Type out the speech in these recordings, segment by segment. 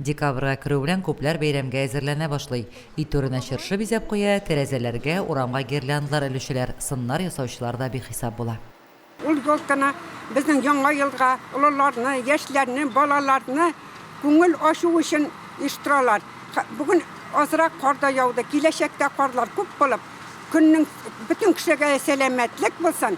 Декабрьгә керү белән күпләр бәйрәмгә әзерләнә башлый. Өй түренә чыршы бизәп куя, тәрәзәләргә, урамга гирляндлар элүчеләр, сыннар ясаучылар да бихисап була. Ул елкыны, безнең Яңа елга олыларны, яшьләрне, балаларны күңел ачу өчен оештыралар. Бүген азрак кар да яуды, киләчәктә карлар күп булып, көннең бөтен кешегә сәламәтлек булсын!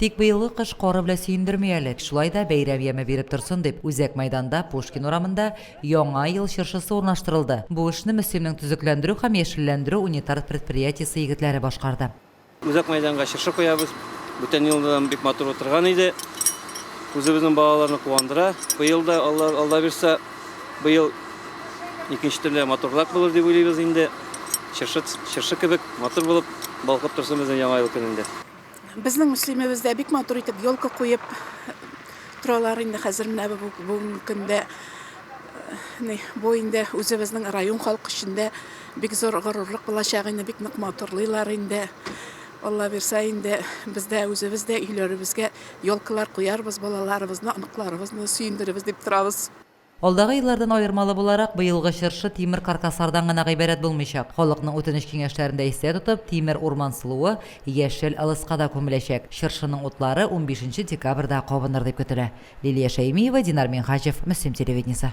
Тик быелгы кыш кары белән сөендерми әле, шулай да бәйрәм яме биреп торсын дип, үзәк мәйданда, Пушкин урамында Яңа ел чыршысы урнаштырылды. Бу эшне Мөслимнең төзекләндерү һәм яшелләндерү унитар предприятиесе егетләре башкарды. Үзәк мәйданга чыршы куябыз. Бүтән елда да бик матур утырган иде. Үзебезнең балаларны куандыра. Быел да, Алла, Алла бирса, быел икенче төрле матурлап булыр дип уйлыйбыз инде. Чыршы, чыршы кебек матур булып балкып торсын безнең Яңа ел көнендә. Безнең Мөслимебездә бик матур итеп елка куеп торалар инде хәзер менә бу бүгенге көндә. Ни, бу инде үзебезнең район халкы өчен дә бик зур горурлык булачак инде, бик нык матурлыйлар инде. Алла бирсә инде без дә үзебез дә өйләребезгә елкалар куярбыз, балаларыбызны, оныкларыбызны сөендеребез дип торабыз. Алдагы еллардан аермалы буларак, быелгы чыршы тимер каркаслардан гына гыйбарәт булмыйчак, халыкның үтенеч-киңәшләрен дә истә тотып, тимер урман сылуы, яшел ылыска да күмеләчәк. Чыршының утлары унбишенче декабрьдә кабыныр дип көтелә. Лилия Шәймиева, Динар Минһаҗев, Мөслим телевидениесе.